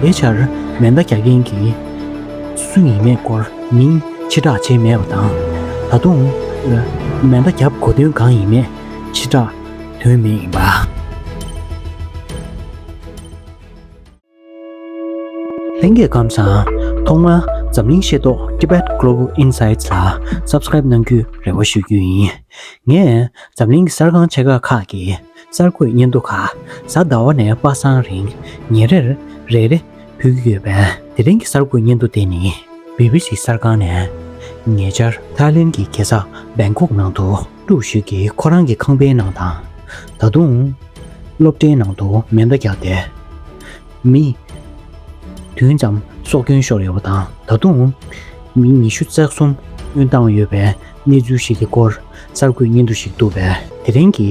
དེའི་ཕྱིར་མེ་མདའ་རྒྱག་མཁན་གྱི་སུ་ཡིན་མེད་སྐོར་མིང་ཕྱི་བསྒྲགས་བྱས་མེད་པ་དང་ད་དུང་མེ་མདའ་བརྒྱབ་གོ་དོན་གང་ཡིན་མེད་ཕྱི་བསྒྲགས་དོན་མེད་ཡིན་པ། ལྷན་རྒྱས་ཁམས་བཟང། ཐོག་མར་འཛམ་གླིང་ཤེས་རྟོགས Tibet Global Insights ལ Subscribe གནང་རྒྱུའི་རེ་བ་ཞུ་རྒྱུ་ཡིན། ངས་འཛམ་གླིང་གི་གསར་ཁང་ཆེ་ཁག་ཁག་གི་གསར་འགོད་སྙན་ཐོ་ཁ་གསལ་ཟླ་བ་ནས་པ་སངས་རིང་ཉིན་རེར་རེ་རེ་ཕུལ་གྱི་ཡོད་པས་དེ་རིང་གི་གསར་འགོད་སྙན་ཐོ་དེ་ནི BBC གསར་ཁང་ནས་ཉེ་ཆར་ཐའི་ལེན་གྱི་རྒྱལ་ས Bangkok ནང་དུ། དྲུག་ཤོས་ཀྱིས་ཁོ་རང་གི་ཁང་པའི་ནང་དང། ད་དུང། སློབ་གྲྭའི་ནང་དུ་མེ་མདའ་རྒྱག་སྟེ། མི། བདུན་ཙམ་སྲོག་སྐྱོན་ཤོར་ཡོད་པ་དང་ད་དུང། མི་ཉི་ཤུ་རྩ་གསུམ་དབོན་བཏང་ཡོད་པའི་གནས་ཚུལ་ཞིག་གི་སྐོར་གསར་འགོད་སྙན་ཐོ་ཞིག་འདུག་པས་དེ་རིང་གི་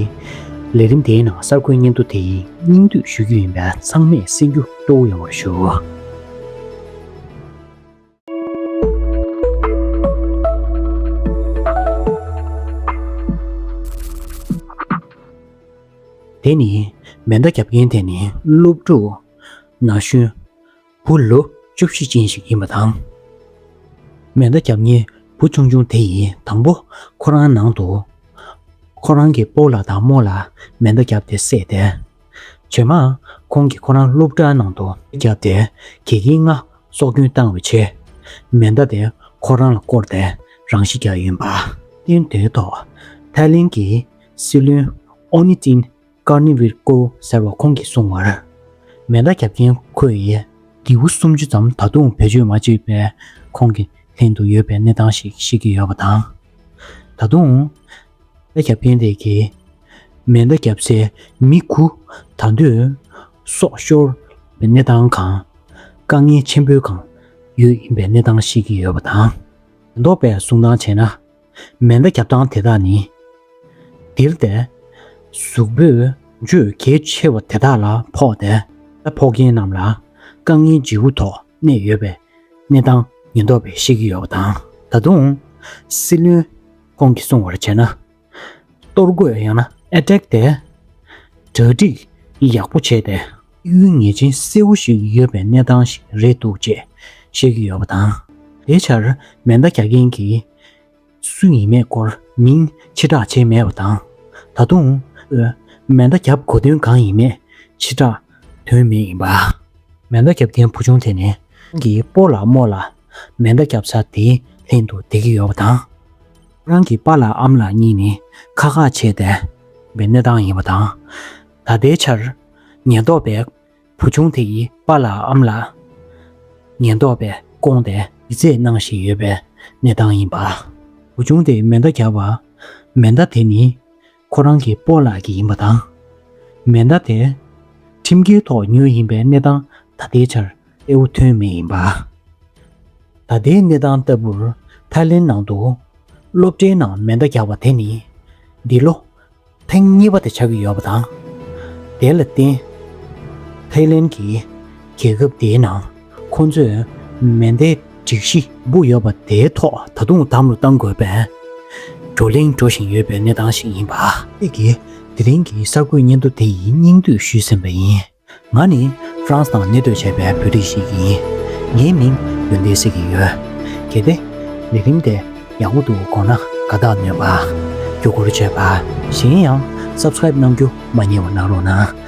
ལས་རིམ་དེའི་ནང་གསར་འགོད་སྙན་ཐོ་དེ་ཡི་སྙིང་བསྡུས་ཞུ་རྒྱུ་ཡིན་པས་ཚང་མས་གསན་རྒྱུ་གཙོ་བོ་ཡོང་བར་ཞུ། དེ་ནི་མེ་མདའ་རྒྱབ་མཁན་དེ་ནི་སློབ་ཕྲུག་ན་གཞོན་བུ་ལོ་བཅུ་བཞི་ཅན་ཞིག་ཡིན་པ་དང། མེ་མདའ་རྒྱབ་མཁན་བུ་ཆུང་ཆུང་དེ་ཡིས་དང་པོ་ཁོ་རང་ནང་དུ་ཁོ་རང་གི་སྤོ་ལ་དང་རྨོ་ལ་མེ་མདའ་བརྒྱབ་སྟེ་བསད་དེ། བྱོན་མ། ཁོང་གིས་ཁོ་རང་སློབ་གྲྭའི་ནང་དུ། བརྒྱབ་སྟེ་གྱི་གིས་ང་སྲོག་སྐྱོན་བཏང་བའི་ཆེ། མེ་མདའ་དེ་ཁོ་རང་ལ་བསྐོར་ཏེ་རང་ཤི་རྒྱག་ཡོད་པ། སྟོན་དེའི་ཐོག་ཐའི་ལེན་གྱི་སྲིད་བློན་ཨོ་ནི་ཏིན་ཀར་ནི་བྷིར་ཀོ་ཟེར་བ་ཁོང་གིས་གསུངས་བར། མེ་མདའ་བརྒྱབ་མཁན་ཁོ་ཡི། སྒྱིད་བུ་སུམ་ཅུ་ཙམ་ད་དུང་བེད་སྤྱོད་མ་བྱས་པའི་ཁོང་གི་ལྷན་དུ་ཡོད་པའི་གནས་སྟངས་ཤིག་ཤེས་ཀྱི་ཡོད་པ་དང། ད་དུང། ལ་རྒྱབ་བརྟེན་ལས་ཀྱི་མེ་མདའ་བརྒྱབ་སའི་མི་ཁུ་དང་དུད་སོགས་ཤོར་བའི་གནས་སྟངས་གང། དཀའ་ངལ་ཆེན་པོའི་གང་ཡོད་ཡིན་པའི་གནས་སྟངས་ཤེས་ཀྱི་ཡོད་པ་དང། ཉེན་རྟོག་པས་སྲུང་སྟངས་བྱས་ན། མེ་མདའ་བརྒྱབ་སྟངས་དེ་དག་ནི། འདིར་བལྟས། གཟུགས་པོས་འཇོལ་གལ་ཆེ་བ་དེ་དག་ལ་ཕོག་སྟེ། ཕོག་མཁན་རྣམས་ལ་དཀའ་ངལ་ལྗི་བོ་ཐོག་གནས་ཡོད་པའི་གནས་སྟངས་ཉེན་རྟོག་པས་ཤེས་ཀྱི་ཡོད་པ་དང། ད་དུང། སྲིད་བློན་ཁོང་གིས་སྲུང་བར་བྱས་ན། གཏོར་རྒོད་ཡང་ན་ཨེ་བྲེག་སྟེ། གྲ་སྒྲིག་ཡག་པོ་བྱས་ཏེ། གཡུལ་ངེས་ཅན་གསལ་བོ་ཞིག་ཡོད་པའི་གནས་སྟངས་ཤིག་རེད་འདུག་ཅེས་བཤད་ཀྱི་ཡོད་པ་དང། དེའི་ཆར་མེ་མདའ་རྒྱག་མཁན་གྱི་སུ་ཡིན་མེད་སྐོར་མིང་ཕྱི་བསྒྲགས་བྱས་མེད་པ་དང། ད་དུང། མེ་མདའ་རྒྱབ་གོ་དོན་གང་ཡིན་མེད་ཕྱི་བསྒྲགས་དོན་མེད་ཡིན་པ། མེ་མདའ་རྒྱབ་མཁན་བུ་ཆུང་དེ་ནི། ཁོང་གིས་སྤོ་ལ་རྨོ་ལ། མེ་མདའ་རྒྱབ་ས་དེ་ལྷན་དུ་བསྡད་ཀྱི་ཡོད་པ་དང། རང་གི་པ་ལགས་ཨམ་ལགས་གཉིས་ནི་ཁག་ཁག་ཆད་བསྡད་པའི་གནས་སྟངས་ཡིན་པ་དང། ད་ལྟའི་ཆར་ཉེན་རྟོག་པས་བུ་ཆུང་དེ་ཡི་པ་ལགས་ཨམ་ལགས་ཉེན་རྟོག་པས་བཀོང་སྟེ་ཡིད་ཚད་གནང་བཞིན་ཡོད་པའི་གནས་སྟངས་ཡིན་པ། བུ་ཆུང་དེ་མེ་མདའ་རྒྱབ་པ། མེ་མདའ་དེ་ནི། ཁོ་རང་གི་སྤོ་ལགས་ཀྱི་ཡིན་པ་དང། མེ་མདའ་དེ། ཁྲིམས་འགལ་ཐོག་ཉོས་ཡིན་པའི་གནས་སྟངས་ད་ལྟའི་ཆར་གསལ་བོ་ཐོན་མེད་ཡིན་པ། ད་ལྟའི་གནས་སྟངས་ལྟ་བུར་ཐའི་ལེན་ནང་དུ། སློབ་གྲྭའི་ནང་མེ་མདའ་རྒྱག་པ་དེ་ནི། འདི་ལོ། ཐེངས་གཉིས་པ་དེ་ཆགས་ཀྱི་ཡོད་པ་དང། དེ་ལ་བརྟེན། ཐའི་ལེན་གྱིས་རྒྱལ་ཁབ་དེའི་ནང་ཁོ་ཚོས་མེ་མདའི་སྒྲིག་གཞི་སྦུག་ཡོད་པ་དེའི་ཐོག་ད་དུང་དམ་བློ་གཏང་དགོས་པའི་བགྲོ་གླེང་འགྲོ་བཞིན་ཡོད་པའི་གནས་སྟངས་ཤིག་ཡིན་པ། ཁྱེད་ཀྱིས་དེ་རིང་གི་གསར་འགོད་སྙན་ཐོ་དེ་ཡི་སྙིང་བསྡུས་ཞུས་ཟིན་པ་ཡིན། ང་ནི France ནང་གནས་སྡོད་བྱས་པའི་བོད་རིགས་ཤིག་ཡིན། ངའི་མིང་ཡོན་ཏན་སེ་གི་ཡོད། གལ་ཏེ། ལས་རིམ་དེ་ཡག་པོ་འདུག་དགོངས་ན་དགའ་རྟགས་ནོས་པ། རྒྱུ་སྐོར་བརྗོད་པ། གཞན་ཡང Subscribe གནང་རྒྱུ་མ་རྙེད་བ་གནང་རོགས་གནང།